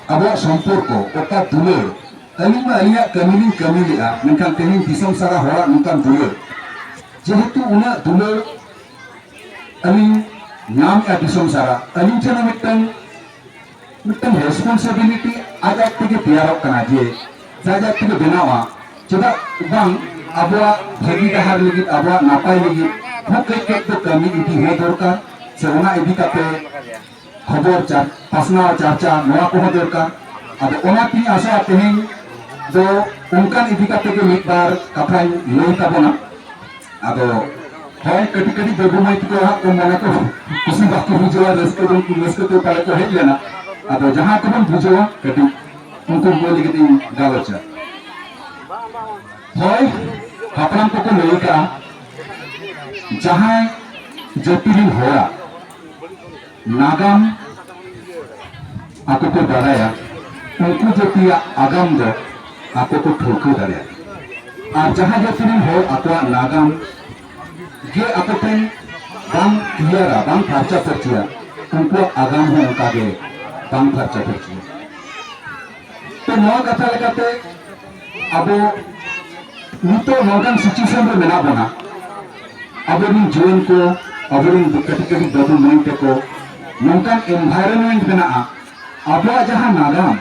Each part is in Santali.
ᱟᱵᱚᱣᱟᱜ ᱥᱚᱢᱯᱚᱨᱠᱚ ᱚᱠᱟ ᱫᱩᱞᱟᱹᱲ ᱟᱹᱞᱤᱧ ᱢᱟ ᱟᱹᱞᱤᱧᱟᱜ ᱠᱟᱹᱢᱤ ᱞᱤᱧ ᱠᱟᱹᱢᱤ ᱞᱮᱫᱼᱟ ᱢᱮᱱᱠᱷᱟᱱ ᱛᱮᱦᱮᱧ ᱫᱤᱥᱚᱢ ᱥᱟᱨᱟ ᱦᱚᱲᱟᱜ ᱱᱚᱝᱠᱟᱱ ᱫᱩᱞᱟᱹᱲ ᱡᱮᱦᱮᱛᱩ ᱩᱱᱟᱹᱜ ᱫᱩᱞᱟᱹᱲ ᱟᱹᱞᱤᱧ ᱧᱟᱢᱮᱫᱼᱟ ᱫᱤᱥᱚᱢ ᱥᱟᱨᱟ ᱟᱹᱞᱤᱧ ᱴᱷᱮᱱ ᱢᱤᱫᱴᱟᱝ ᱢᱤᱫᱴᱟᱝ ᱨᱮᱥᱯᱚᱱᱥᱤᱵᱤᱞᱤᱴᱤ ᱟᱡ ᱟᱡ ᱛᱮᱜᱮ ᱛᱮᱭᱟᱨᱚᱜ ᱠᱟᱱᱟ ᱡᱮ ᱟᱡ ᱟᱡ ᱛᱮᱜᱮ ᱵᱮᱱᱟᱣᱟ ᱪᱮᱫᱟᱜ ᱵᱟᱝ ᱟᱵᱚᱣᱟᱜ ᱵᱷᱟᱹᱜᱤ ᱰᱟᱦᱟᱨ ᱞᱟᱹᱜᱤᱫ ᱟᱵᱚᱣᱟᱜ ᱱᱟᱯᱟᱭ ᱞᱟᱹᱜᱤᱫ ᱦᱚᱸ ᱠᱟᱹᱡ ᱠᱟᱹᱡ ᱫᱚ ᱠᱟᱹᱢᱤ ᱤᱫᱤ ᱦᱚᱸ ᱫᱚᱨᱠᱟᱨ ᱥᱮ ᱚᱱᱟ ᱤᱫᱤ ᱠᱟᱛᱮ ᱠᱷᱚᱵᱚᱨ ᱯᱟᱥᱱᱟᱣ ᱪᱟᱨᱪᱟ ᱱᱚᱣᱟ ᱠᱚᱦᱚᱸ ᱫᱚᱨᱠᱟᱨ ᱟᱫᱚ ᱚᱱᱟ ᱛᱤᱧ ᱟᱥᱚᱜᱼᱟ ᱛᱮᱦᱮᱧ ᱫᱚ ᱚᱱᱠᱟᱱ ᱤᱫᱤ ᱠᱟᱛᱮ ᱜᱮ ᱢᱤᱫ ᱵᱟᱨ ᱠᱟᱛᱷᱟᱧ ᱞᱟᱹᱭ ᱛᱟᱵᱚᱱᱟ ᱟᱫᱚ ᱦᱳᱭ ᱠᱟᱹᱴᱤᱡ ᱠᱟᱹᱴᱤᱡ ᱵᱟᱹᱵᱩ ᱢᱟᱹᱭ ᱛᱟᱠᱚ ᱦᱟᱸᱜ ᱠᱚ ᱢᱚᱱᱮ ᱠᱚ ᱠᱩᱥᱤ ᱵᱟᱠᱚ ᱵᱩᱡᱷᱟᱹᱣᱟ ᱨᱟᱹᱥᱠᱟᱹ ᱫᱚ ᱩᱱᱠᱩ ᱨᱟᱹᱥᱠᱟᱹ ᱛᱮ ᱯᱟᱞᱮ ᱠᱚ ᱦᱮᱡ ᱞᱮᱱᱟ ᱟᱫᱚ ᱡᱟᱦᱟᱸ ᱠᱚᱵᱚᱱ ᱵᱩᱡᱷᱟᱹᱣᱟ ᱠᱟᱹᱴᱤᱡ ᱩᱱᱠᱩ ᱠᱚ ᱞᱟᱹᱜᱤᱫ ᱤᱧ ᱜᱟᱞᱚᱪᱟ ᱦᱳᱭ ᱦᱟᱯᱲᱟᱢ ᱠᱚᱠᱚ ᱞᱟᱹᱭ ᱠᱟᱜᱼᱟ ᱡᱟᱦᱟᱸᱭ ᱡᱟᱹᱛᱤ ᱨᱮᱱ ᱦᱚᱲᱟᱜ ᱱᱟᱜᱟᱢ ᱟᱠᱚ ᱠᱚ ᱵᱟᱲᱟᱭᱟ ᱩᱱᱠᱩ ᱡᱟᱹᱛᱤᱭᱟᱜ ᱟᱜᱟᱢ ᱫᱚ ᱟᱠᱚ ᱠᱚ ᱴᱷᱟᱹᱣᱠᱟᱹ ᱫᱟᱲᱮᱭᱟᱜᱼᱟ ᱟᱨ ᱡᱟᱦᱟᱸ ᱡᱟᱹᱛᱤ ᱨᱮᱱ ᱦᱚᱲ ᱟᱠᱚᱣᱟᱜ ᱱᱟᱜᱟᱢ ᱜᱮ ᱟᱠᱚ ᱴᱷᱮᱱ ᱵᱟᱝ ᱠᱞᱤᱭᱟᱨᱟ ᱵᱟᱝ ᱯᱷᱟᱨᱪᱟ ᱯᱷᱟᱹᱨᱪᱤᱭᱟ ᱩᱱᱠᱩᱣᱟᱜ ᱟᱜᱟᱢ ᱦᱚᱸ ᱚᱱᱠᱟᱜᱮ ᱵᱟᱝ ᱯᱷᱟᱨᱪᱟ ᱯᱷᱟᱹᱨᱪᱤᱭᱟ ᱱᱚᱣᱟ ᱠᱟᱛᱷᱟ ᱞᱮᱠᱟᱛᱮ ᱟᱵᱚ ᱱᱤᱛᱚᱜ ᱱᱚᱝᱠᱟᱱ ᱥᱤᱪᱩᱭᱮᱥᱚᱱ ᱨᱮ ᱢᱮᱱᱟᱜ ᱵᱚᱱᱟ ᱟᱵᱚᱨᱮᱱ ᱡᱩᱣᱟᱹᱱ ᱠᱚ ᱟᱵᱚᱨᱮᱱ ᱠᱟᱹᱴᱤᱡ ᱠᱟᱹᱴᱤᱡ ᱵᱟᱹᱵᱩ ᱢᱟᱹᱭ ᱛᱟᱠᱚ ᱱᱚᱝᱠᱟᱱ ᱮᱱᱵᱷᱟᱭᱨᱚᱱᱢᱮᱱᱴ ᱢᱮᱱᱟᱜᱼᱟ ᱟᱵᱚᱣᱟᱜ ᱡᱟᱦᱟᱸ ᱱᱟᱜᱟᱢ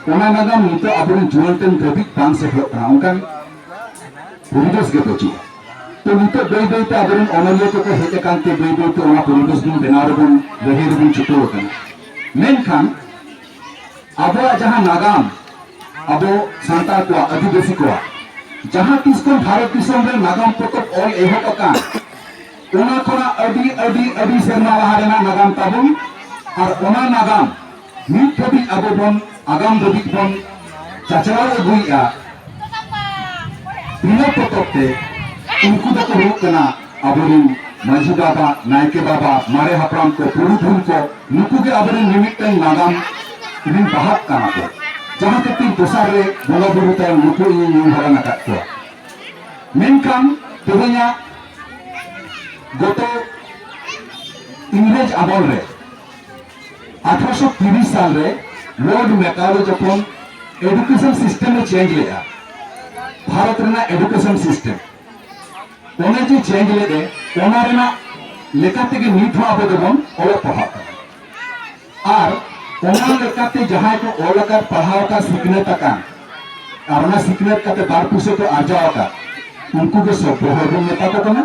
ᱚᱱᱟ ᱱᱟᱜᱟᱢ ᱱᱤᱛᱚᱜ ᱟᱵᱚᱨᱮᱱ ᱡᱩᱣᱟᱹᱱ ᱴᱷᱮᱱ ᱫᱷᱟᱹᱵᱤᱡ ᱵᱟᱝ ᱥᱮᱴᱮᱨᱚᱜ ᱠᱟᱱᱟ ᱚᱱᱠᱟᱱ ᱯᱚᱨᱤᱵᱮᱥ ᱜᱮ ᱵᱟᱹᱪᱩᱜᱼᱟ ᱛᱚ ᱱᱤᱛᱚᱜ ᱵᱟᱹᱭ ᱵᱟᱹᱭᱛᱮ ᱟᱵᱚᱨᱮᱱ ᱚᱱᱚᱞᱤᱭᱟᱹ ᱠᱚᱠᱚ ᱦᱮᱡ ᱟᱠᱟᱱ ᱛᱮ ᱵᱟᱹᱭ ᱵᱟᱹᱭᱛᱮ ᱚᱱᱟ ᱯᱚᱨᱤᱵᱮᱥ ᱵᱚᱱ ᱵᱮᱱᱟᱣ ᱨᱮᱵᱚᱱ ᱞᱟᱹᱲᱦᱟᱹᱭ ᱨᱮᱵᱚᱱ ᱪᱷᱩᱴᱟᱹᱣ ᱟᱠᱟᱱᱟ ᱢᱮᱱᱠᱷᱟᱱ ᱟᱵᱚᱣᱟᱜ ᱡᱟᱦᱟᱸ ᱱᱟᱜᱟᱢ ᱟᱵᱚ ᱥᱟᱱᱛᱟᱲ ᱠᱚᱣᱟᱜ ᱟᱹᱫᱤᱵᱟᱹᱥᱤ ᱠᱚᱣᱟᱜ ᱡᱟᱦᱟᱸ ᱛᱤᱥ ᱠᱷᱚᱱ ᱵᱷᱟᱨᱚᱛ ᱫᱤᱥᱚᱢ ᱨᱮ ᱱᱟᱜᱟᱢ ᱯᱚᱛᱚᱵ ᱚᱞ ᱮᱦᱚᱵ ᱟᱠᱟᱱ ᱚᱱᱟ ᱠᱷᱚᱱᱟᱜ ᱟᱹᱰᱤ ᱟᱹᱰᱤ ᱟᱹᱰᱤ ᱥᱮᱨᱢᱟ ᱞᱟᱦᱟ ᱨᱮᱱᱟᱜ ᱱᱟᱜᱟᱢ ᱛᱟᱵᱚᱱ ᱟᱨ ᱚᱱᱟ ᱱᱟᱜᱟᱢ ᱱᱤᱛ ᱫᱷᱟᱹᱵᱤᱡ ᱟᱵᱚ ᱵᱚᱱ ᱟᱜᱟᱢ ᱫᱷᱟᱹᱵᱤᱡ ᱵᱚᱱ ᱪᱟᱪᱞᱟᱣ ᱟᱹᱜᱩᱭᱮᱫᱼᱟ ᱵᱤᱱᱟᱹ ᱯᱚᱛᱚᱵ ᱛᱮ ᱩᱱᱠᱩ ᱫᱚᱠᱚ ᱦᱩᱭᱩᱜ ᱠᱟᱱᱟ ᱟᱵᱚᱨᱤᱱ ᱢᱟᱹᱡᱷᱤ ᱵᱟᱵᱟ ᱱᱟᱭᱠᱮ ᱵᱟᱵᱟ ᱢᱟᱨᱮ ᱦᱟᱯᱲᱟᱢ ᱠᱚ ᱯᱩᱨᱩᱫᱷᱩᱞ ᱠᱚ ᱱᱩᱠᱩ ᱜᱮ ᱟᱵᱚᱨᱤᱱ ᱢᱤᱢᱤᱫᱴᱟᱝ ᱱᱟᱜᱟᱢ ᱨᱤᱱ ᱵᱟᱦᱟᱜ ᱠᱟᱱᱟ ᱠᱚ ᱡᱟᱦᱟᱸ ᱠᱷᱟᱹᱛᱤᱨ ᱫᱚᱥᱟᱨ ᱨᱮ ᱵᱚᱸᱜᱟ ᱵᱩᱨᱩ ᱛᱟᱭᱚᱢ ᱱᱩᱠᱩ ᱤᱧ ᱧᱩᱢ ᱦᱟᱞᱟᱝ ᱟᱠᱟᱫ ᱠᱚᱣᱟ ᱢᱮᱱᱠᱷᱟᱱ ᱛᱮᱦᱮᱧᱟᱜ ᱜᱚᱛᱚ ᱤᱝᱨᱮᱡᱽ ᱟᱢᱚᱞ ᱨᱮ ᱟᱴᱷᱨᱚᱥᱚ ᱛᱤᱨᱤᱥ ᱥᱟᱞ ᱨᱮ ᱞᱚᱨᱰ ᱢᱮᱠᱟᱣᱞᱮ ᱡᱚᱠᱷᱚᱱ ᱮᱰᱩᱠᱮᱥᱚᱱ ᱥᱤᱥᱴᱮᱢ ᱮ ᱪᱮᱧᱡᱽ ᱞᱮᱫᱼᱟ ᱵᱷᱟᱨᱚᱛ ᱨᱮᱱᱟᱜ ᱮᱰᱩᱠᱮᱥᱚᱱ ᱥᱤᱥᱴᱮᱢ ᱚᱱᱮ ᱡᱮ ᱪᱮᱧᱡᱽ ᱞᱮᱫ ᱮ ᱚᱱᱟ ᱨᱮᱱᱟᱜ ᱞᱮᱠᱟ ᱛᱮᱜᱮ ᱱᱤᱛ ᱦᱚᱸ ᱟᱵᱚ ᱫᱚᱵᱚᱱ ᱚᱞᱚᱜ ᱯᱟᱲᱦᱟᱜ ᱠᱟᱱᱟ ᱟᱨ ᱚᱱᱟ ᱞᱮᱠᱟᱛᱮ ᱡᱟᱦᱟᱸᱭ ᱠᱚ ᱚᱞ ᱟᱠᱟᱫ ᱯᱟᱲᱦᱟᱣ ᱟᱠᱟᱫ ᱥᱤᱠᱷᱱᱟᱹᱛ ᱟᱠᱟᱱ ᱟᱨ ᱚᱱᱟ ᱥᱤᱠᱷᱱᱟᱹᱛ ᱠᱟᱛᱮ ᱵᱟᱨ ᱯᱩᱭᱥᱟᱹ ᱠᱚ ᱟᱨᱡᱟᱣ ᱟᱠᱟᱫ ᱩᱱᱠᱩ ᱜᱮ ᱥᱚᱵᱽᱵᱚ ᱦᱚᱲ ᱵᱚᱱ ᱢᱮᱛᱟ ᱠᱚ ᱠᱟᱱᱟ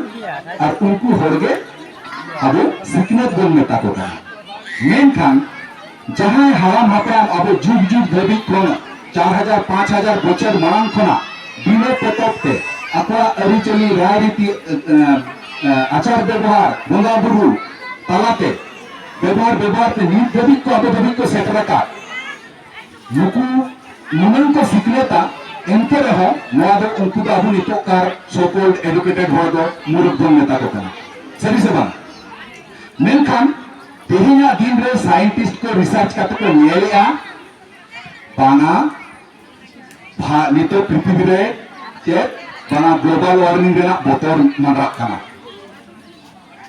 ᱟᱨ ᱩᱱᱠᱩ ᱦᱚᱲ ᱜᱮ ᱟᱵᱚ ᱥᱤᱠᱷᱱᱟᱹᱛ ᱵᱚᱱ ᱢᱮᱛᱟ ᱠᱚ ᱠᱟᱱᱟ ᱢᱮᱱᱠᱷᱟᱱ ᱡᱟᱦᱟᱸᱭ ᱦᱟᱲᱟᱢ ᱦᱟᱯᱲᱟᱢ ᱟᱵᱚ ᱡᱩᱜᱽ ᱡᱩᱜᱽ ᱫᱷᱟᱹᱵᱤᱡ ᱠᱷᱚᱱ ᱪᱟᱨ ᱦᱟᱡᱟᱨ ᱯᱟᱸᱪ ᱦᱟᱡᱟᱨ ᱵᱚᱪᱷᱚᱨ ᱢᱟᱲᱟᱝ ᱠᱷᱚᱱᱟᱜ ᱵᱤᱱᱟᱹ ᱯᱚᱛᱚᱵ ᱛᱮ ᱟᱠᱚᱣᱟᱜ ᱟᱹᱨᱤᱪᱟᱹᱞᱤ ᱨᱟᱭᱨᱤᱛᱤ ᱟᱪᱟᱨ ᱵᱮᱵᱚᱦᱟᱨ ᱵᱚᱸᱜᱟ ᱵᱩᱨᱩ ᱛᱟᱞᱟᱛᱮ ᱵᱮᱵᱚᱦᱟᱨ ᱵᱮᱵᱚᱦᱟᱨ ᱛᱮ ᱱᱤᱛ ᱫᱷᱟᱹᱵᱤᱡ ᱠᱚ ᱟᱵᱚ ᱫᱷᱟᱹᱵᱤᱡ ᱠᱚ ᱥᱮᱴᱮᱨ ᱟᱠᱟᱫ ᱱᱩᱠᱩ ᱱᱩᱱᱟᱹᱝ ᱠᱚ ᱥᱤᱠᱷᱱᱟᱹᱛᱟ ᱮᱱᱛᱮ ᱨᱮᱦᱚᱸ ᱱᱚᱣᱟ ᱫᱚ ᱩᱱᱠᱩ ᱫᱚ ᱟᱵᱚ ᱱᱤᱛᱚᱜ ᱠᱟᱨ ᱥᱚᱠᱚᱞ ᱮᱰᱩᱠᱮᱴᱮᱰ ᱦᱚᱲ ᱫᱚ ᱢᱩᱨᱩᱠᱷ ᱵᱚᱱ ᱢᱮᱛᱟ ᱠᱚ ᱠᱟᱱᱟ ᱥᱟᱹᱨᱤ ᱥᱮ ᱵᱟᱝ ᱢᱮᱱᱠᱷᱟᱱ ᱛᱮᱦᱮᱧᱟᱜ ᱫᱤᱱ ᱨᱮ ᱥᱟᱭᱮᱱᱴᱤᱥᱴ ᱠᱚ ᱨᱤᱥᱟᱨᱪ ᱠᱟᱛᱮ ᱠᱚ ᱧᱮᱞᱮᱜᱼᱟ ᱵᱟᱝᱟ ᱱᱤᱛᱚᱜ ᱯᱨᱤᱛᱷᱤᱵᱤ ᱨᱮ ᱪᱮᱫ ᱵᱟᱝᱟ ᱜᱞᱳᱵᱟᱞ ᱳᱣᱟᱨᱢᱤᱝ ᱨᱮᱱᱟᱜ ᱵᱚᱛᱚᱨ ᱢᱟᱰᱨᱟᱜ ᱠᱟᱱᱟ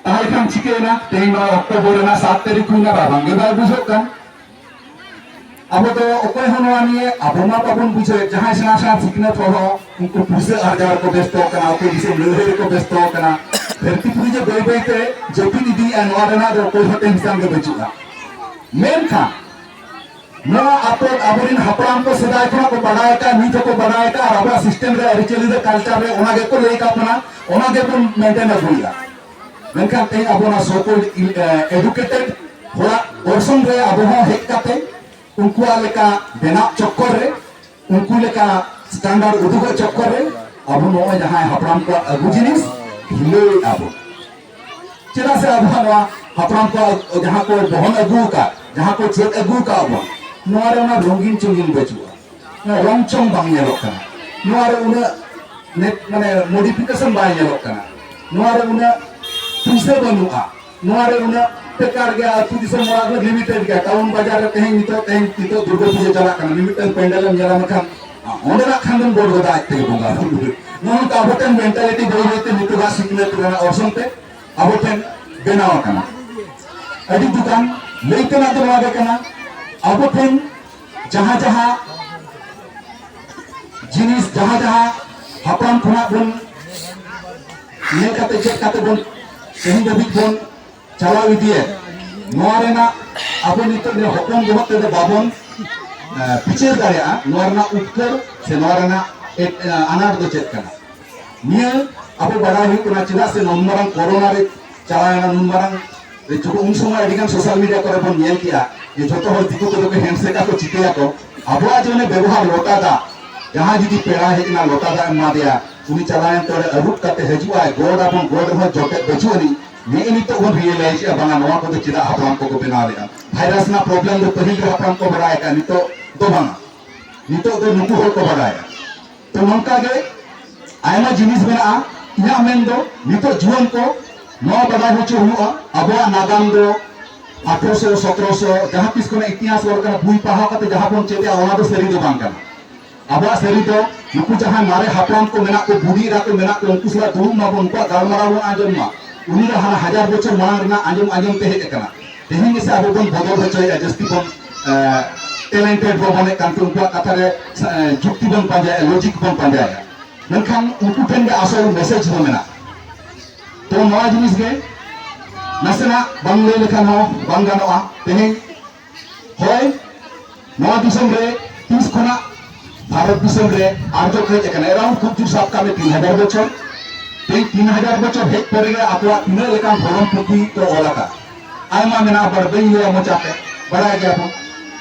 ᱛᱟᱦᱞᱮ ᱠᱷᱟᱱ ᱪᱤᱠᱟᱹᱭᱮᱱᱟ ᱛᱮᱦᱮᱧ ᱱᱚᱣᱟ ᱚᱠᱴᱳᱵᱚᱨ ᱨᱮᱱᱟᱜ ᱥᱟᱛ ᱛᱟᱹᱨᱤᱠᱷ ᱦᱩᱭᱱᱟ ᱨᱟᱵᱟᱝ ᱜᱮ ᱵᱟᱭ ᱵᱩᱡᱷᱟᱹᱜ ᱠᱟᱱ ᱟᱵᱚ ᱫᱚ ᱚᱠᱚᱭ ᱦᱚᱸ ᱱᱚᱣᱟ ᱱᱤᱭᱮ ᱟᱵᱚ ᱢᱟ ᱵᱟᱵᱚᱱ ᱵᱩᱡᱷᱟᱹᱣ ᱡᱟᱦᱟᱸᱭ ᱥᱮᱬᱟ ᱥᱮᱬᱟ ᱥᱤᱠᱷᱱᱟᱹᱛ ᱦᱚᱲ ᱦᱚᱸ ᱩᱱᱠᱩ ᱯᱩᱭᱥᱟᱹ ᱟᱨᱡᱟᱣ ᱨᱮᱠᱚ ᱵᱮᱥᱛᱚ ᱟᱠᱟᱱᱟ ᱚᱠᱚᱭ ᱫᱤᱥᱚᱢ ᱞᱟᱹᱲᱦᱟᱹᱭ ᱨᱮᱠᱚ ᱵᱮᱥᱛᱚ ᱟᱠᱟᱱᱟ ᱫᱷᱟᱹᱨᱛᱤ ᱯᱩᱨᱤ ᱡᱮ ᱵᱟᱹᱭ ᱵᱟᱹᱭ ᱛᱮ ᱡᱟᱹᱯᱤᱫ ᱤᱫᱤᱭᱮᱫᱼᱟ ᱱᱚᱣᱟ ᱨᱮᱱᱟᱜ ᱫᱚ ᱚᱠᱚᱭ ᱦᱚᱸ ᱴᱮᱱᱥᱚᱱ ᱜᱮ ᱵᱟᱹᱪᱩᱜᱼᱟ ᱢᱮᱱᱠᱷᱟᱱ ᱱᱚᱣᱟ ᱟᱯᱚ ᱟᱵᱚᱨᱮᱱ ᱦᱟᱯᱲᱟᱢ ᱠᱚ ᱥᱮᱫᱟᱭ ᱠᱷᱚᱱᱟᱜ ᱠᱚ ᱵᱟᱰᱟᱭ ᱟᱠᱟᱫ ᱱᱤᱛ ᱦᱚᱸᱠᱚ ᱵᱟᱰᱟᱭ ᱟᱠᱟᱫ ᱟᱨ ᱟᱵᱚᱣᱟᱜ ᱥᱤᱥᱴᱮᱢ ᱨᱮ ᱟᱹᱨᱤᱪᱟᱹᱞᱤ ᱨᱮ ᱠᱟᱞᱪᱟᱨ ᱨᱮ ᱚᱱᱟ ᱜᱮᱠᱚ ᱞᱟᱹᱭ ᱟᱠᱟᱫ ᱵᱚᱱᱟ ᱚᱱᱟ ᱜᱮᱵᱚᱱ ᱢᱮᱱᱴᱮᱱ ᱟᱹᱜᱩᱭᱮᱫᱟ ᱢᱮᱱᱠᱷᱟᱱ ᱛᱮᱦᱮᱧ ᱟᱵᱚ ᱱᱚᱣᱟ ᱥᱚᱠᱚᱞ ᱮᱰᱩᱠᱮᱴᱮᱰ ᱦᱚᱲᱟᱜ ᱚᱨᱥᱚᱝ ᱨᱮ ᱟᱵᱚ ᱦᱚᱸ ᱦᱮᱡ ᱠᱟᱛᱮ ᱩᱱᱠᱩᱣᱟᱜ ᱞᱮᱠᱟ ᱵᱮᱱᱟᱣ ᱪᱚᱠᱠᱚᱨ ᱨᱮ ᱩᱱᱠᱩ ᱞᱮᱠᱟ ᱥᱴᱟᱱᱰᱟᱨᱰ ᱩᱫᱩᱜᱚᱜ ᱪᱚᱠᱠᱚᱨ ᱨᱮ ᱟᱵᱚ ᱱᱚᱜᱼᱚᱭ ᱡᱟᱦᱟᱸᱭ ᱦᱟᱯᱲᱟᱢ ᱠᱚᱣᱟᱜ ᱟᱹᱜᱩ ᱡᱤᱱᱤᱥ ᱦᱤᱞᱟᱹᱣᱮᱫ ᱟᱵᱚ ᱪᱮᱫᱟᱜ ᱥᱮ ᱟᱵᱚᱣᱟᱜ ᱱᱚᱣᱟ ᱦᱟᱯᱲᱟᱢ ᱠᱚᱣᱟᱜ ᱡᱟᱦᱟᱸ ᱠᱚ ᱵᱚᱦᱚᱱ ᱟᱹᱜᱩ ᱟᱠᱟᱫ ᱡᱟᱦᱟᱸ ᱠᱚ ᱪᱮᱫ ᱟᱹᱜᱩ ᱟᱠᱟᱫ ᱵᱚᱱ ᱱᱚᱣᱟ ᱨᱮ ᱚᱱᱟ ᱨᱚᱝᱜᱤᱱ ᱪᱚᱝᱜᱤᱱ ᱵᱟᱹᱪᱩᱜᱼᱟ ᱨᱚᱝ ᱪᱚᱝ ᱵᱟᱝ ᱧᱮᱞᱚᱜ ᱠᱟᱱᱟ ᱱᱚᱣᱟ ᱨᱮ ᱩᱱᱟᱹᱜ ᱱᱮᱴ ᱢᱟᱱᱮ ᱢᱚᱰᱤᱯᱷᱤᱠᱮᱥᱚᱱ ᱵᱟᱭ ᱧᱮᱞᱚᱜ ᱠᱟᱱᱟ ᱱᱚᱣᱟ ᱨᱮ ᱩᱱᱟᱹᱜ ᱯᱩᱭᱥᱟᱹ ᱵᱟᱹᱱᱩᱜᱼᱟ ᱱᱚᱣᱟ ᱨᱮ ᱩᱱᱟᱹᱜ ᱴᱮᱠᱟᱨ ᱜᱮᱭᱟ ᱟᱹᱛᱩ ᱫᱤᱥᱚᱢ ᱚᱲᱟᱜ ᱫᱚ ᱞᱤᱢᱤᱴᱮᱰ ᱜᱮᱭᱟ ᱴᱟᱣᱩᱱ ᱵᱟᱡᱟᱨ ᱨᱮ ᱛᱮᱦᱮᱧ ᱱᱤᱛᱚᱜ ᱛᱮᱦᱮᱧ ᱱᱤᱛᱚᱜ ᱫᱩᱨᱜᱟᱹ ᱯᱩᱡᱟᱹ ᱪᱟᱞᱟᱜ ᱠᱟᱱᱟ ᱢᱤᱢᱤᱫᱴᱟᱝ ᱯᱮᱱᱰᱮᱞ ᱮᱢ ᱧᱮᱞᱟ ᱢᱮᱱᱠᱷᱟᱱ ᱚᱸᱰᱮᱱᱟᱜ ᱠᱷᱟᱱ ᱫᱚᱢ ᱜᱚᱰ ᱜᱚᱫᱟ ᱟᱡ ᱛᱮᱜᱮ ᱵᱚᱸᱜᱟ ᱵᱩᱨᱩ ᱱᱚᱣᱟ ᱱᱚᱝᱠᱟ ᱟᱵᱚ ᱴᱷᱮᱱ ᱢᱮᱱᱴᱟᱞᱤᱴᱤ ᱵᱟᱹᱭ ᱵᱟᱹᱭᱛᱮ ᱱᱤᱛᱚᱜᱟᱜ ᱥᱤᱠᱷᱱᱟᱹᱛ ᱨᱮᱱᱟᱜ ᱚᱨᱥᱚᱝ ᱛᱮ ᱟᱵᱚ ᱴᱷᱮᱱ ᱵᱮᱱᱟᱣ ᱟᱠᱟᱱᱟ ᱟᱹᱰᱤ ᱫᱩᱠᱟᱱ ᱞᱟᱹᱭ ᱛᱮᱱᱟᱜ ᱫᱚ ᱱᱚᱣᱟ ᱜᱮ ᱠᱟᱱᱟ ᱟᱵᱚ ᱴᱷᱮᱱ ᱡᱟᱦᱟᱸ ᱡᱟᱦᱟᱸ ᱡᱤᱱᱤᱥ ᱡᱟᱦᱟᱸ ᱡᱟᱦᱟᱸ ᱦᱟᱯᱲᱟᱢ ᱠᱷᱚᱱᱟᱜ ᱵᱚᱱ ᱧᱮᱞ ᱠᱟᱛᱮ ᱪᱮᱫ ᱠᱟᱛᱮ ᱵᱚᱱ ᱛᱮᱦᱮᱧ ᱫᱷᱟᱹᱵᱤᱡ ᱵᱚᱱ ᱪᱟᱞᱟᱣ ᱤᱫᱤᱭᱮᱫ ᱱᱚᱣᱟ ᱨᱮᱱᱟᱜ ᱟᱵᱚ ᱱᱤᱛᱚᱜ ᱱᱤᱭᱟᱹ ᱦᱚᱯᱚᱱ ᱵᱚᱦᱚᱜ ᱛᱮᱫᱚ ᱵᱟᱵᱚᱱ ᱵᱤᱪᱟᱹᱨ ᱫᱟᱲᱮᱭᱟᱜᱼᱟ ᱱᱚᱣᱟ ᱨᱮᱱᱟᱜ ᱩᱛᱛᱚᱨ ᱥᱮ ᱱᱚᱣᱟ ᱨᱮᱱᱟᱜ ᱟᱱᱟᱴ ᱫᱚ ᱪᱮᱫ ᱠᱟᱱᱟ ᱱᱤᱭᱟᱹ ᱟᱵᱚ ᱵᱟᱲᱟᱭ ᱦᱩᱭᱩᱜ ᱠᱟᱱᱟ ᱪᱮᱫᱟᱜ ᱥᱮ ᱱᱚᱱ ᱢᱟᱨᱟᱝ ᱠᱚᱨᱳᱱᱟ ᱨᱮ ᱪᱟᱞᱟᱣ ᱮᱱᱟ ᱱᱩᱱ ᱢᱟᱨᱟᱝ ᱡᱚᱠᱷᱚᱱ ᱩᱱ ᱥᱚᱢᱚᱭ ᱟᱹᱰᱤ ᱜᱟᱱ ᱥᱳᱥᱟᱞ ᱢᱤᱰᱤᱭᱟ ᱠᱚᱨᱮ ᱵᱚᱱ ᱧᱮᱞ ᱠᱮᱜᱼᱟ ᱡᱮ ᱡᱚᱛᱚ ᱦᱚᱲ ᱫᱤᱠᱩ ᱠᱚᱫᱚ ᱠᱚ ᱦᱮᱱᱰᱥᱮᱠᱟ ᱠᱚ ᱪᱤᱠᱟᱹᱭᱟ ᱠᱚ ᱟᱵᱚᱣᱟᱜ ᱡᱮ ᱵᱮᱵᱚᱦᱟᱨ ᱞᱚᱴᱟ ᱫᱟᱜ ᱡᱟᱦᱟᱸ ᱡᱩᱫᱤ ᱯᱮᱲᱟ ᱦᱮᱡ ᱮᱱᱟ ᱞᱚᱴᱟ ᱫᱟᱜ ᱮᱢᱟ ᱫᱮᱭᱟ ᱩᱱᱤ ᱪᱟᱞᱟᱣ ᱮᱱ ᱛᱚᱲᱮ ᱟᱹᱨᱩᱵ ᱠᱟᱛᱮ ᱦᱤᱡᱩᱜ ᱟᱭ ᱜᱚᱰ ᱟᱵᱚᱱ ᱜᱚᱰ ᱨᱮᱦᱚᱸ ᱡᱚᱴᱮᱫ ᱵᱟᱹᱪᱩᱜ ᱟᱹᱱᱤᱡ ᱱᱮᱜᱼᱮ ᱱᱤᱛᱚᱜ ᱵᱚᱱ ᱨᱤᱭᱮᱞᱟᱭᱤᱡᱽ ᱮᱜᱼᱟ ᱵᱟᱝᱟ ᱱᱚᱣᱟ ᱠᱚᱫᱚ ᱪᱮᱫᱟᱜ ᱦᱟᱯᱲᱟᱢ ᱠᱚᱠᱚ ᱵᱮᱱᱟᱣ ᱞᱮᱜᱼᱟ ᱵᱷᱟᱭᱨᱟᱥ ᱨᱮᱱᱟᱜ ᱯᱨᱚᱵᱞᱮᱢ ᱫᱚ ᱯᱟᱹᱦᱤᱞ ᱨᱮ ᱦᱟᱯᱲᱟᱢ ᱠᱚ ᱵᱟᱲᱟᱭ ᱟᱠᱟᱫᱼᱟ ᱱᱤᱛᱚᱜ ᱫᱚ ᱵᱟᱝᱟ ᱱᱤᱛᱚᱜ ᱫᱚ ᱱᱩᱠᱩ ᱦᱚᱲ ᱠᱚ ᱵᱟᱲᱟᱭᱟ ᱛᱚ ᱱᱚᱝᱠᱟ ᱜᱮ ᱟᱭᱢᱟ ᱡᱤᱱᱤᱥ ᱢᱮᱱᱟᱜᱼᱟ ᱤᱧᱟᱹᱜ ᱢᱮᱱ ᱫᱚ ᱱᱤᱛᱚᱜ ᱡᱩᱣᱟᱹᱱ ᱠᱚ ᱱᱚᱣᱟ ᱵᱟᱰᱟᱭ ᱦᱚᱪᱚ ᱦᱩᱭᱩᱜᱼᱟ ᱟᱵᱚᱣᱟᱜ ᱱᱟᱜᱟᱢ ᱫᱚ ᱟᱴᱷᱨᱚᱥᱚ ᱥᱚᱛᱨᱚᱥᱚ ᱡᱟᱦᱟᱸ ᱛᱤᱥ ᱠᱷᱚᱱᱟᱜ ᱤᱛᱤᱦᱟᱥ ᱚᱞ ᱠᱟᱱᱟ ᱵᱩᱭ ᱯᱟᱲᱦᱟᱣ ᱠᱟᱛᱮ ᱡᱟᱦᱟᱸ ᱵᱚᱱ ᱪᱮᱫᱮᱜᱼᱟ ᱚᱱᱟ ᱫᱚ ᱥᱟᱹᱨᱤ ᱫᱚ ᱵᱟᱝ ᱠᱟᱱᱟ ᱟᱵᱚᱣᱟᱜ ᱥᱟᱹᱨᱤ ᱫᱚ ᱱᱩᱠᱩ ᱡᱟᱦᱟᱸ ᱢᱟᱨᱮ ᱦᱟᱯᱲᱟᱢ ᱠᱚ ᱢᱮᱱᱟᱜ ᱠᱚ ᱵᱩᱰᱷᱤ ᱮᱨᱟ ᱠᱚ ᱢᱮᱱᱟᱜ ᱠᱚ ᱩᱱᱠᱩ ᱥᱟᱞᱟᱜ ᱫᱩᱲᱩᱵ ᱢᱟᱵᱚᱱ ᱩᱱᱠᱩᱣᱟᱜ ᱜᱟᱞᱢᱟᱨᱟᱣ ᱵᱚᱱ ᱟᱸᱡᱚᱢ ᱢᱟ ᱩᱱᱤ ᱫᱚ ᱦᱟᱱᱟ ᱦᱟᱡᱟᱨ ᱵᱚᱪᱷᱚᱨ ᱢᱟᱲᱟᱝ ᱨᱮᱱᱟᱜ ᱟᱸᱡᱚᱢ ᱟᱸᱡᱚᱢ ᱛᱮ ᱦᱮᱡ ᱟᱠᱟᱱᱟ ᱛᱮᱦᱮᱧ ᱜᱮᱥᱮ ᱟᱵᱚ ᱵᱚᱱ ᱵᱚᱫᱚᱞ ᱦᱚᱪᱚᱭᱮᱫᱼᱟ ᱡᱟᱹᱥᱛᱤ ᱵᱚᱱ ᱴᱮᱞᱮᱱᱴᱮᱰ ᱵᱚᱱ ᱢᱚᱱᱮᱜ ᱠᱟᱱᱛᱮ ᱩᱱᱠᱩᱣᱟᱜ ᱠᱟᱛᱷᱟ ᱨᱮ ᱡᱩᱠᱛᱤ ᱵᱚᱱ ᱯᱟᱸᱡᱟᱭᱮᱫᱼᱟ ᱞᱚᱡᱤᱠ ᱵᱚᱱ ᱯᱟᱸᱡᱟᱭᱮᱫᱼᱟ ᱢᱮᱱᱠᱷᱟᱱ ᱩᱱᱠᱩ ᱴᱷᱮᱱ ᱜᱮ ᱟᱥᱚᱞ ᱢᱮᱥᱮᱡᱽ ᱫᱚ ᱢᱮᱱᱟᱜᱼᱟ ᱛᱚ ᱱᱚᱣᱟ ᱡᱤᱱᱤᱥ ᱜᱮ ᱱᱟᱥᱮᱱᱟᱜ ᱵᱟᱝ ᱞᱟᱹᱭ ᱞᱮᱠᱷᱟᱱ ᱦᱚᱸ ᱵᱟᱝ ᱜᱟᱱᱚᱜᱼᱟ ᱛᱮᱦᱮᱧ ᱦᱚᱭ ᱱᱚᱣᱟ ᱫᱤᱥᱚᱢ ᱨᱮ ᱛᱤᱥ ᱠᱷᱚᱱᱟᱜ ᱵᱷᱟᱨᱚᱛ ᱫᱤᱥᱚᱢ ᱨᱮ ᱟᱨᱡᱚ ᱠᱚ ᱦᱮᱡ ᱟᱠᱟᱱᱟ ᱮᱨᱟᱣᱩᱱᱰ ᱠᱷᱩᱵ ᱡᱳᱨ ᱥᱟᱵ ᱠᱟᱜ ᱢᱮ ᱛᱤᱱ ᱦᱟᱡᱟᱨ ᱵᱚᱪᱷᱚᱨ ᱛᱮᱦᱮᱧ ᱛᱤᱱ ᱦᱟᱡᱟᱨ ᱵᱚᱪᱷᱚᱨ ᱦᱮᱡ ᱯᱚᱨᱮ ᱜᱮ ᱟᱠᱚᱣᱟᱜ ᱛᱤᱱᱟᱹᱜ ᱞᱮᱠᱟᱱ ᱫᱷᱚᱨᱚᱢ ᱯᱩᱛᱷᱤ ᱠᱚ ᱚᱞ ᱟᱠᱟᱫ ᱟᱭᱢᱟ ᱢᱮᱱᱟᱜᱼᱟ ᱵᱟᱲ ᱵᱟᱹᱧ ᱞᱟᱹᱭᱟ ᱢᱚᱪᱟᱛᱮ ᱵᱟᱲᱟᱭ ᱜᱮᱭᱟ ᱵᱚᱱ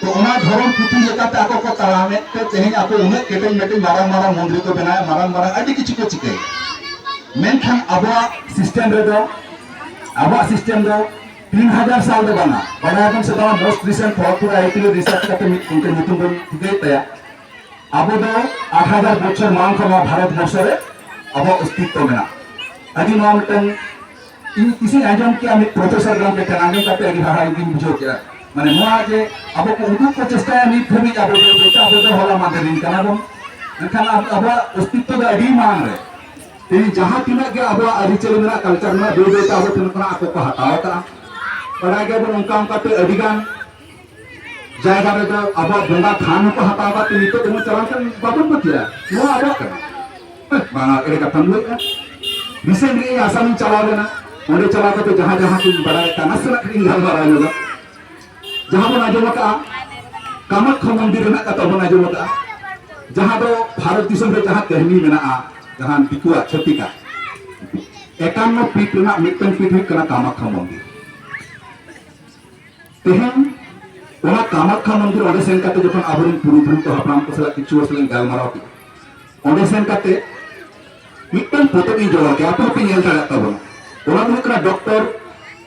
ᱛᱚ ᱚᱱᱟ ᱫᱷᱚᱨᱚᱢ ᱯᱩᱛᱷᱤ ᱞᱮᱠᱟᱛᱮ ᱟᱠᱚ ᱠᱚ ᱛᱟᱲᱟᱢᱮᱫ ᱛᱮ ᱛᱮᱦᱮᱧ ᱟᱠᱚ ᱩᱱᱟᱹᱜ ᱠᱮᱴᱮᱡ ᱢᱮᱴᱮᱡ ᱢᱟᱨᱟᱝ ᱢᱟᱨᱟᱝ ᱢᱚᱱᱫᱤᱨ ᱠᱚ ᱵᱮᱱᱟᱣᱮᱫ ᱢᱟᱨᱟᱝ ᱢᱟᱨᱟᱝ ᱟᱹᱰᱤ ᱠᱤᱪᱷᱩ ᱠᱚ ᱪᱤᱠᱟᱹᱭᱮᱫ ᱢᱮᱱᱠᱷᱟᱱ ᱟᱵᱚᱣᱟᱜ ᱥᱤᱥᱴᱮᱢ ᱨᱮᱫᱚ ᱟᱵᱚᱣᱟᱜ ᱥᱤᱥᱴᱮᱢ ᱫᱚ ᱛᱤᱱ ᱦᱟᱡᱟᱨ ᱥᱟᱞ ᱫᱚ ᱵᱟᱝᱟ ᱵᱟᱰᱟᱭ ᱟᱵᱚᱱ ᱥᱮ ᱵᱟᱝᱟ ᱢᱳᱥᱴ ᱨᱤᱥᱮᱱᱴ ᱠᱷᱚᱲᱚᱜᱯᱩᱨ ᱟᱭᱟᱭᱴᱤ ᱨᱮ ᱨᱤᱥᱟᱨᱪ ᱠᱟᱛᱮ ᱢᱤᱫ ᱩᱱᱠᱩ ᱧᱩᱛᱩᱢ ᱵᱚᱱ ᱴᱷᱤᱠᱟᱹᱭ ᱛᱟᱭᱟ ᱟᱵᱚ ᱫᱚ ᱟᱴ ᱦᱟᱡᱟᱨ ᱵᱚᱪᱷᱚᱨ ᱢᱟᱲᱟᱝ ᱠᱷᱚᱱ ᱱᱚᱣᱟ ᱵᱷᱟᱨᱚᱛ ᱵᱚᱨᱥᱚ ᱨᱮ ᱟᱵᱚᱣᱟᱜ ᱚᱥᱛᱤᱛᱛᱚ ᱢᱮᱱᱟᱜᱼᱟ ᱟᱹᱰᱤ ᱱᱚᱣᱟ ᱢᱤᱫᱴᱟᱝ ᱤᱧ ᱛᱤᱥᱤᱧ ᱟᱸᱡᱚᱢ ᱠᱮᱜᱼᱟ ᱢᱤᱫ ᱯᱨᱚᱯᱷᱮᱥᱚᱨ ᱜᱚᱢᱠᱮ ᱴᱷᱮᱱ ᱟᱸᱡᱚᱢ ᱠᱟᱛᱮ ᱟᱹᱰᱤ ᱦᱟᱦᱟᱲᱟ ᱜᱤᱧ ᱵᱩᱡᱷᱟᱹᱣ ᱠᱮᱜᱼᱟ ᱢᱟᱱᱮ ᱱᱚᱣᱟ ᱡᱮ ᱟᱵᱚ ᱠᱚ ᱩᱫᱩᱜ ᱠᱚ ᱪᱮᱥᱴᱟᱭᱟ ᱱᱤᱛ ᱫᱷᱟᱹᱵᱤᱡ ᱟᱵᱚ ᱫᱚ ᱟᱵᱚ ᱫᱚ ᱦᱚᱞᱟ ᱢᱟᱫᱮᱨ ᱨᱤᱱ ᱠᱟᱱᱟ ᱵᱚᱱ ᱢᱮᱱᱠᱷᱟᱱ ᱟᱵᱚᱣᱟᱜ ᱚᱥᱛᱤᱛᱛᱚ ᱫᱚ ᱟᱹᱰᱤ ᱢᱟᱲᱟᱝ ᱨᱮ ᱛᱮᱦᱮᱧ ᱡᱟᱦᱟᱸ ᱛᱤᱱᱟᱹᱜ ᱜᱮ ᱟᱵᱚᱣᱟᱜ ᱟᱹᱨᱤᱪᱟᱹᱞᱤ ᱢᱮᱱᱟᱜ ᱠᱟᱞᱪᱟᱨ ᱢᱮᱱᱟᱜ ᱵᱟᱹᱭ ᱵᱟᱹᱭᱛᱮ ᱟᱵᱚ ᱴᱷᱮᱱ ᱠᱷᱚᱱᱟᱜ ᱟᱠᱚ ᱠᱚ ᱦᱟᱛᱟᱣ ᱟᱠᱟᱫᱼᱟ ᱵᱟᱰᱟᱭ ᱜᱮᱭᱟᱵᱚᱱ ᱚᱱᱠᱟ ᱚᱱᱠᱟᱛᱮ ᱟᱹᱰᱤᱜᱟᱱ ᱡᱟᱭᱜᱟ ᱨᱮᱫᱚ ᱟᱵᱚᱣᱟᱜ ᱵᱚᱸᱜᱟ ᱛᱷᱟᱱ ᱦᱚᱸᱠᱚ ᱦᱟᱛᱟᱣ ᱟᱠᱟᱫ ᱛᱮ ᱱᱤᱛᱚᱜ ᱫᱚᱵᱚᱱ ᱪᱟᱞᱟᱣ ᱞᱮᱱᱠᱷᱟᱱ ᱵᱟᱵᱚᱱ ᱯᱟᱹᱛᱭᱟᱹᱜᱼᱟ ᱱᱚᱣᱟ ᱟᱵᱚᱣᱟᱜ ᱠᱟᱱᱟ ᱵᱟᱝᱟ ᱮᱲᱮ ᱠᱟᱛᱷᱟᱢ ᱞᱟᱹᱭᱮᱫᱼᱟ ᱨᱤᱥᱮᱱᱴ ᱜᱮ ᱤᱧ ᱟᱥᱟᱢᱤᱧ ᱪᱟᱞᱟᱣ ᱞᱮᱱᱟ ᱚᱸᱰᱮ ᱪᱟᱞᱟᱣ ᱠᱟᱛᱮ ᱡᱟᱦᱟᱸ ᱡᱟᱦᱟᱸ ᱠᱚᱧ ᱵᱟᱰᱟᱭ ᱠᱟᱱᱟ ᱱᱟᱥᱮᱱᱟᱜ ᱠᱟᱹᱴᱤᱡ ᱜᱟᱞᱢᱟᱨᱟᱣ ᱧᱚᱜᱟ ᱡᱟᱦᱟᱸ ᱵᱚᱱ ᱟᱸᱡᱚᱢ ᱟᱠᱟᱜᱼᱟ ᱠᱟᱢᱟᱠᱠᱷᱟ ᱢᱚᱱᱫᱤᱨ ᱨᱮᱱᱟᱜ ᱠᱟᱛᱷᱟ ᱵᱚᱱ ᱟᱸᱡᱚᱢ ᱟᱠᱟᱜᱼᱟ ᱡᱟᱦᱟᱸ ᱫᱚ ᱵᱷᱟᱨᱚᱛ ᱫᱤᱥᱚᱢ ᱨᱮ ᱡᱟᱦᱟᱸ ᱠᱟᱹᱦᱱᱤ ᱢᱮᱱᱟᱜᱼᱟ ᱡᱟᱦᱟᱸ ᱫᱤᱠᱩᱣᱟᱜ ᱪᱷᱟᱹᱛᱤᱠᱟᱜ ᱮᱠᱟᱱᱱᱚ ᱯᱤᱴ ᱨᱮᱱᱟᱜ ᱢᱤᱫᱴᱟᱝ ᱯᱤᱴ ᱦᱩᱭᱩᱜ ᱠᱟᱱᱟ ᱠᱟᱢᱟᱠᱠᱷᱟ ᱢᱚᱱᱫᱤᱨ ᱛᱮᱦᱮᱧ ᱚᱱᱟ ᱠᱟᱢᱟᱠᱠᱷᱟ ᱢᱚᱱᱫᱤᱨ ᱚᱸᱰᱮ ᱥᱮᱱ ᱠᱟᱛᱮ ᱡᱚᱠᱷᱚᱱ ᱟᱵᱚᱨᱮᱱ ᱯᱩᱨᱩᱫᱷᱩᱞ ᱠᱚ ᱦᱟᱯᱲᱟᱢ ᱠᱚ ᱥᱟᱞᱟᱜ ᱠᱤᱪᱷᱩ ᱦᱚᱲ ᱥᱟᱞᱟᱜ ᱜᱟᱞᱢᱟᱨᱟᱣ ᱠᱮᱫᱟ ᱚᱸᱰᱮ ᱥᱮᱱ ᱠᱟᱛᱮ ᱢᱤᱫᱴᱟᱝ ᱯᱚᱛᱚᱵ ᱤᱧ ᱡᱚᱲᱟᱣ ᱠᱮᱫᱟ ᱟᱯᱮ ᱦᱚᱸᱯᱮ ᱧᱮᱞ ᱫᱟᱲᱮᱭᱟᱜ ᱛᱟᱵᱚᱱᱟ ᱚᱱᱟ ᱫᱚ ᱦᱩᱭᱩᱜ ᱠᱟᱱᱟ ᱰᱚᱠᱴᱚᱨ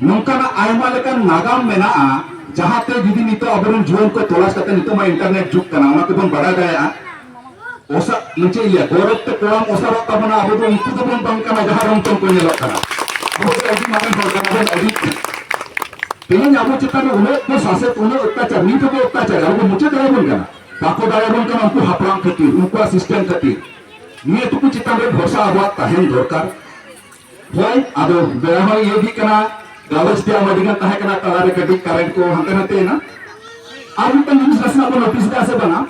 ᱱᱚᱝᱠᱟᱱᱟᱜ ᱟᱭᱢᱟ ᱞᱮᱠᱟᱱ ᱱᱟᱜᱟᱢ ᱢᱮᱱᱟᱜᱼᱟ ᱡᱟᱦᱟᱸᱛᱮ ᱡᱩᱫᱤ ᱱᱤᱛᱚᱜ ᱟᱵᱚᱨᱮᱱ ᱡᱩᱣᱟᱹᱱ ᱠᱚ ᱛᱚᱞᱟᱥ ᱠᱟᱛᱮ ᱱᱤᱛᱚᱜ ᱢᱟ ᱤᱱᱴᱟᱨᱱᱮᱴ ᱡᱩᱜᱽ ᱠᱟᱱᱟ ᱚᱱᱟ ᱛᱮᱵᱚᱱ ᱵᱟᱰᱟᱭ ᱫᱟᱲᱮᱭᱟᱜᱼᱟ ᱚᱥᱟ ᱪᱮᱫ ᱤᱧ ᱞᱟᱹᱭᱟ ᱜᱚᱨᱚᱵ ᱛᱮ ᱠᱚᱲᱟᱢ ᱚᱥᱟᱨᱚᱜ ᱛᱟᱵᱚᱱᱟ ᱟᱵᱚ ᱫᱚ ᱩᱱᱠᱩ ᱫᱚ ᱵᱚᱱ ᱵᱟᱝ ᱠᱟᱱᱟ ᱡᱟᱦᱟᱸ ᱨᱚᱝ ᱛᱮ ᱠᱚ ᱧᱮᱞᱚᱜ ᱠᱟᱱᱟ ᱟᱵᱚ ᱫᱚ ᱟᱹᱰᱤ ᱢᱟᱨᱟᱝ ᱦᱚᱲ ᱠᱟᱱᱟ ᱵᱚᱱ ᱟᱹᱰᱤ ᱛᱮᱦᱮᱧ ᱟᱵᱚ ᱪᱮᱛᱟᱱ ᱨᱮ ᱩᱱᱟᱹᱜ ᱠᱚ ᱥᱟᱥᱮᱛ ᱩᱱᱟᱹᱜ ᱚᱛᱛᱟᱪᱟᱨ ᱱᱤᱛ ᱦᱚᱸᱠᱚ ᱚᱛᱛᱟᱪᱟᱨ ᱟᱵᱚ ᱢᱩᱪᱟᱹᱫ ᱫᱟᱲᱮᱭᱟᱵᱚᱱ ᱠᱟᱱᱟ ᱵᱟᱠᱚ ᱫᱟᱲᱮᱭᱟᱵᱚᱱ ᱠᱟᱱᱟ ᱩᱱᱠᱩ ᱦᱟᱯᱲᱟᱢ ᱠᱷᱟᱹᱛᱤᱨ ᱩᱱᱠᱩᱣᱟᱜ ᱥᱤᱥᱴᱮᱢ ᱠᱷᱟᱹᱛᱤᱨ ᱱᱤᱭᱟᱹ ᱴᱩᱠᱩ ᱪᱮᱛᱟᱱ ᱨᱮ ᱵᱷᱚᱨᱥᱟ ᱟᱵᱚᱣᱟᱜ ᱛᱟᱦᱮᱱ ᱫᱚᱨᱠᱟᱨ ᱦᱳᱭ ᱟᱫᱚ ᱵᱮᱲᱟ ᱦᱚᱸ ᱤᱭᱟᱹ ᱜᱮ ᱠᱟᱱᱟ ᱜᱟᱞᱚᱪ ᱛᱮ ᱟᱢ ᱟᱹᱰᱤᱜᱟᱱ ᱛᱟᱦᱮᱸ ᱠᱟᱱᱟ ᱛᱟᱞᱟᱨᱮ ᱠᱟᱹᱴᱤᱡ ᱠᱟᱨᱮᱱᱴ ᱠᱚ ᱦᱟᱱᱛᱮ ᱱᱟᱛᱮ ᱮᱱᱟ ᱟᱨ ᱢᱤᱫᱴᱟᱝ ᱡᱤᱱᱤᱥ ᱱᱟᱥᱮᱱᱟᱜ ᱵᱚᱱ ᱱᱳᱴᱤᱥ ᱮᱫᱟ ᱥᱮ ᱵᱟᱝᱟ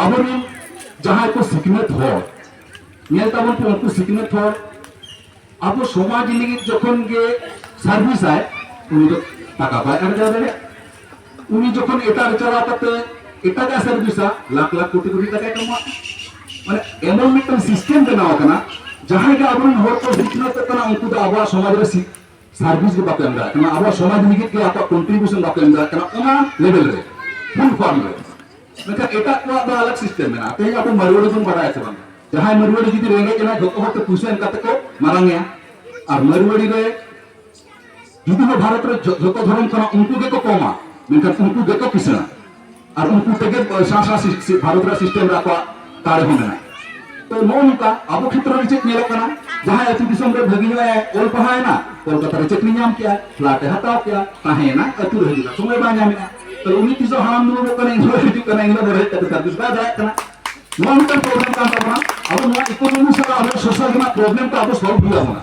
ᱟᱵᱚᱨᱮᱱ ᱡᱟᱦᱟᱸᱭ ᱠᱚ ᱥᱤᱠᱷᱱᱟᱹᱛ ᱦᱚᱲ ᱧᱮᱞ ᱛᱟᱵᱚᱱ ᱯᱮ ᱩᱱᱠᱩ ᱥᱤᱠᱷᱱᱟᱹᱛ ᱦᱚᱲ ᱟᱵᱚ ᱥᱚᱢᱟᱡᱽ ᱞᱟᱹᱜᱤᱫ ᱡᱚᱠᱷᱚᱱ ᱜᱮ ᱥᱟᱨᱵᱷᱤᱥᱟᱭ ᱩᱱᱤ ᱫᱚ ᱴᱟᱠᱟ ᱵᱟᱭ ᱟᱨᱡᱟᱣ ᱫᱟᱲᱮᱭᱟᱜᱼᱟ ᱩᱱᱤ ᱡᱚᱠᱷᱚᱱ ᱮᱴᱟᱜ ᱨᱮ ᱪᱟᱞᱟᱣ ᱠᱟᱛᱮ ᱮᱴᱟᱜᱟᱜ ᱥᱟᱨᱵᱷᱤᱥᱟ ᱞᱟᱠᱷ ᱞᱟᱠᱷ ᱠᱳᱴᱤ ᱠᱳᱴᱤ ᱴᱟᱠᱟᱭ ᱠᱟᱢᱟᱣᱟ ᱢᱟᱱᱮ ᱮᱢᱚᱱ ᱢᱤᱫᱴᱟᱝ ᱥᱤᱥᱴᱮᱢ ᱵᱮᱱᱟᱣ ᱟᱠᱟᱱᱟ ᱡᱟᱦᱟᱸᱭ ᱜᱮ ᱟᱵᱚᱨᱮᱱ ᱦᱚᱲ ᱠᱚ ᱥᱤᱠᱷᱱᱟᱹᱛᱚᱜ ᱠᱟᱱᱟ ᱩᱱᱠᱩ ᱫᱚ ᱟᱵᱚᱣᱟᱜ ᱥᱚᱢᱟᱡᱽ ᱨᱮ ᱥᱟᱨᱵᱷᱤᱥ ᱜᱮ ᱵᱟᱠᱚ ᱮᱢ ᱫᱟᱲᱮᱭᱟᱜ ᱠᱟᱱᱟ ᱟᱵᱚᱣᱟᱜ ᱥᱚᱢᱟᱡᱽ ᱞᱟᱹᱜᱤᱫ ᱜᱮ ᱟᱠᱚᱣᱟᱜ ᱠᱚᱱᱴᱨᱤᱵᱤᱭᱩᱥᱚᱱ ᱵᱟᱠᱚ ᱮᱢ ᱫᱟᱲᱮᱭᱟᱜ ᱠᱟᱱᱟ ᱚᱱᱟ ᱞᱮᱵᱮᱞ ᱨᱮ ᱯᱷᱩᱞ ᱯᱷᱚᱨᱢ ᱨᱮ ᱢᱮᱱᱠᱷᱟᱱ ᱮᱴᱟᱜ ᱠᱚᱣᱟᱜ ᱫᱚ ᱟᱞᱟᱜ ᱥᱤᱥᱴᱮᱢ ᱢᱮᱱᱟᱜᱼᱟ ᱛᱮᱦᱮᱧ ᱟᱵᱚ ᱢᱟᱨᱣᱟᱲᱤ ᱵᱚᱱ ᱵᱟᱰᱟᱭᱟ ᱥᱮ ᱵᱟᱝ ᱡᱟᱦᱟᱸᱭ ᱢᱟᱨᱣᱟᱲᱤ ᱡᱩᱫᱤ ᱨᱮᱸᱜᱮᱡ ᱮᱱᱟᱭ ᱡᱚᱛᱚ ᱦᱚᱲ ᱛᱮ ᱯᱩᱭᱥᱟᱹ ᱮᱢ ᱠᱟᱛᱮ ᱠᱚ ᱢᱟᱨᱟᱝ ᱮᱭᱟ ᱟᱨ ᱢᱟᱨᱣᱟᱲᱤ ᱨᱮ ᱡᱩᱫᱤ ᱵᱚ ᱵᱷᱟᱨᱚᱛ ᱨᱮ ᱡᱚᱛᱚ ᱫᱷᱚᱨᱚᱢ ᱠᱟᱱᱟ ᱩᱱᱠᱩ ᱜᱮᱠᱚ ᱠᱚᱢᱟ ᱢᱮᱱᱠᱷᱟᱱ ᱩᱱᱠᱩ ᱜᱮᱠᱚ ᱠᱤᱥᱟᱹᱬᱟ ᱟᱨ ᱩᱱᱠᱩ ᱛᱮᱜᱮ ᱥᱟᱶ ᱥᱟᱶ ᱵᱷᱟᱨᱚᱛ ᱨᱮ ᱥᱤᱥᱴᱮᱢ ᱨᱮ ᱟᱠᱚᱣᱟᱜ ᱫᱟᱲᱮ ᱦᱚᱸ ᱢᱮᱱᱟᱜᱼᱟ ᱛᱚ ᱱᱚᱜᱼᱚ ᱱᱚᱝᱠᱟ ᱟᱵᱚ ᱠᱷᱮᱛᱨᱚ ᱨᱮ ᱪᱮᱫ ᱧᱮᱞᱚᱜ ᱠᱟᱱᱟ ᱡᱟᱦᱟᱸᱭ ᱟᱹᱛᱩ ᱫᱤᱥᱚᱢ ᱨᱮ ᱵᱷᱟᱹᱜᱤ ᱧᱚᱜ ᱮ ᱚᱞ ᱯᱟᱲᱦᱟᱣ ᱮᱱᱟ ᱠᱳᱞᱠᱟᱛᱟ ᱨᱮ ᱪᱟᱹᱠᱨᱤ ᱧᱟᱢ ᱠᱮᱜᱼᱟ ᱯᱷᱞᱟᱴ ᱮ ᱦᱟᱛᱟᱣ ᱠᱮᱜᱼᱟ ᱛᱟᱦᱮᱸᱭᱮᱱᱟ ᱟᱹᱛᱩ ᱨᱮ ᱦᱤᱡᱩᱜᱼᱟ ᱥᱚᱢᱚᱭ ᱵᱟᱭ ᱧᱟᱢᱮᱜᱼᱟ ᱛᱚ ᱩᱱᱤ ᱛᱤᱥᱚᱜ ᱦᱟᱲᱟᱢ ᱫᱩᱲᱩᱵᱚᱜ ᱠᱟᱱᱟ ᱤᱧ ᱦᱚᱸ ᱦᱤᱡᱩᱜ ᱠᱟᱱᱟ ᱤᱧ ᱦᱚᱸ ᱦᱮᱡ ᱠᱟᱛᱮ ᱥᱟᱨᱵᱷᱤᱥ ᱵᱟᱭ ᱫᱟᱲᱮᱭᱟᱜ ᱠᱟᱱᱟ ᱱᱚᱣᱟ ᱢᱤᱫᱴᱟᱝ ᱯᱨᱚᱵᱞᱮᱢ ᱠᱟᱱ ᱛᱟᱵᱚᱱᱟ ᱟᱵᱚ ᱱᱚᱣᱟ ᱤᱠᱳᱱᱚᱢᱤ ᱥᱟᱞᱟᱜ ᱟᱵᱚ ᱥᱳᱥᱟᱞ ᱨᱮᱱᱟᱜ ᱯᱨᱚᱵᱞᱮᱢ ᱠᱚ ᱟᱵᱚ ᱥᱚᱞᱵᱷ ᱦᱩᱭ ᱟᱵᱚᱱᱟ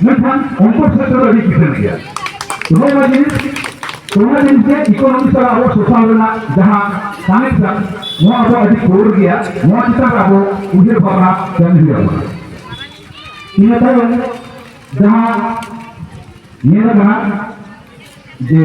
ᱢᱮᱱᱠᱷᱟᱱ ᱩᱱᱠᱩ ᱥᱮᱫ ᱫᱚ ᱟᱹᱰᱤ ᱠᱤᱥᱟᱹᱬ ᱜᱮᱭᱟ ᱱᱚᱣᱟ ᱡᱤᱱᱤᱥ ᱚᱱᱟ ᱡᱤᱱᱤᱥ ᱜᱮ ᱤᱠᱳᱱᱚᱢᱤ ᱥᱟᱞᱟᱜ ᱟᱵᱚ ᱥᱳᱥᱟᱞ ᱨᱮᱱᱟᱜ ᱡᱟᱦᱟᱸ ᱠᱟᱱᱮᱠᱥᱚᱱ ᱱᱚᱣᱟ ᱟᱵᱚ ᱟᱹᱰᱤ ᱠᱳᱨ ᱜᱮᱭᱟ ᱱᱚᱣᱟ ᱪᱮᱛᱟᱱ ᱨᱮ ᱟᱵᱚ ᱩᱭᱦᱟᱹᱨ ᱵᱷᱟᱵᱽᱱᱟ ᱠᱟᱹᱢᱤ ᱦᱩᱭ ᱟᱵᱚᱱᱟ ᱤᱱᱟᱹ ᱛᱟᱭᱚᱢ ᱡᱟᱦᱟᱸ ᱧᱮᱞ ᱟᱠᱟᱱᱟ ᱡᱮ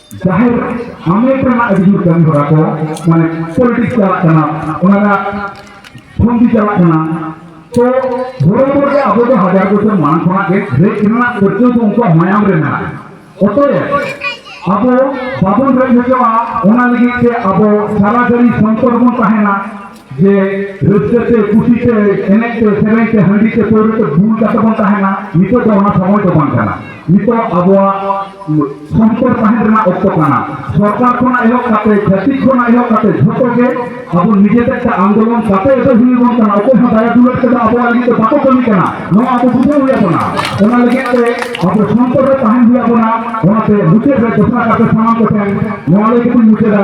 ᱡᱟᱦᱮᱨ ᱦᱟᱢᱮᱴ ᱨᱮᱱᱟᱜ ᱟᱹᱰᱤ ᱡᱳᱨ ᱠᱟᱹᱢᱤ ᱦᱚᱨᱟ ᱠᱚ ᱢᱟᱱᱮ ᱯᱚᱞᱤᱴᱤᱠᱥ ᱪᱟᱞᱟᱜ ᱠᱟᱱᱟ ᱚᱱᱟ ᱨᱮᱱᱟᱜ ᱯᱷᱚᱱᱫᱤ ᱪᱟᱞᱟᱜ ᱠᱟᱱᱟ ᱛᱚ ᱵᱚᱲᱚ ᱵᱚᱲᱚ ᱜᱮ ᱟᱵᱚ ᱫᱚ ᱦᱟᱡᱟᱨ ᱵᱚᱪᱷᱚᱨ ᱢᱟᱲᱟᱝ ᱠᱷᱚᱱᱟᱜ ᱜᱮ ᱨᱮᱡ ᱨᱮᱱᱟᱜ ᱯᱟᱹᱨᱠᱟᱹᱣ ᱫᱚ ᱩᱱᱠᱩᱣᱟᱜ ᱢᱟᱭᱟᱢ ᱨᱮ ᱢᱮᱱᱟᱜᱼᱟ ᱚᱛᱚᱭᱮ ᱟᱵᱚ ᱵᱟᱵᱚᱱ ᱨᱮᱡ ᱦᱚᱪᱚᱜᱼᱟ ᱚᱱᱟ ᱞᱟᱹᱜᱤᱫ ᱛᱮ ᱟᱵᱚ ᱥᱟᱨᱟ ᱜᱷᱟᱹᱲᱤ ᱥᱚᱱᱛᱚᱨ ᱵᱚᱱ ᱛᱟᱦᱮᱱᱟ ᱡᱮ ᱨᱟᱹᱥᱠᱟᱹ ᱛᱮ ᱠᱩᱥᱤ ᱛᱮ ᱮᱱᱮᱡ ᱛᱮ ᱥᱮᱨᱮᱧ ᱛᱮ ᱦᱟᱺᱰᱤ ᱛᱮ ᱯᱟᱹᱣᱨᱟᱹ ᱛᱮ ᱵᱩᱞ ᱠᱟᱛᱮ ᱵᱚᱱ ᱛᱟᱦᱮᱱᱟ ᱱᱤᱛᱚᱜ ᱫᱚ ᱚᱱᱟ ᱥᱚᱢᱚᱭ ᱫᱚ ᱵᱟᱝ ᱠᱟᱱᱟ ᱱᱤᱛᱚᱜ ᱟᱵᱚᱣᱟᱜ ᱥᱚᱱᱛᱚᱨ ᱛᱟᱦᱮᱱ ᱨᱮᱱᱟᱜ ᱚᱠᱛᱚ ᱠᱟᱱᱟ ᱥᱚᱨᱠᱟᱨ ᱠᱷᱚᱱᱟᱜ ᱮᱦᱚᱵ ᱠᱟᱛᱮ ᱪᱷᱟᱹᱛᱤᱠ ᱠᱷᱚᱱᱟᱜ ᱮᱦᱚᱵ ᱠᱟᱛᱮ ᱡᱷᱚᱛᱚ ᱜᱮ ᱟᱵᱚ ᱱᱤᱡᱮ ᱛᱮ ᱟᱱᱫᱳᱞᱚᱱ ᱠᱟᱛᱮ ᱫᱚ ᱦᱩᱭᱩᱜ ᱵᱚᱱ ᱠᱟᱱᱟ ᱚᱠᱚᱭ ᱦᱚᱸ ᱫᱟᱭᱟ ᱫᱩᱞᱟᱹᱲ ᱛᱮᱫᱚ ᱟᱵᱚᱣᱟᱜ ᱞᱟᱹᱜᱤᱫ ᱫᱚ ᱵᱟᱠᱚ ᱠᱟᱹᱢᱤ ᱠᱟᱱᱟ ᱱᱚᱣᱟ ᱟᱵᱚ ᱵᱩᱡᱷᱟᱹᱣ ᱦᱩᱭ ᱟᱵᱚᱱᱟ ᱚᱱᱟ ᱞᱟᱹᱜᱤᱫ ᱛᱮ ᱟᱵᱚ ᱥᱚᱱᱛᱚᱨ ᱨᱮ ᱛᱟᱦᱮᱱ ᱦᱩᱭ ᱟᱵᱚᱱᱟ ᱚᱱᱟᱛᱮ ᱢᱩᱪᱟᱹᱫ ᱨᱮ ᱫᱚᱥᱨᱟ ᱠᱟᱛᱮ ᱥᱟᱱᱟᱢ ᱠᱚᱴᱷᱮᱱ ᱱᱚᱣᱟ ᱞᱟᱹᱜᱤᱫ ᱤᱧ ᱢᱩᱪᱟᱹᱫᱟ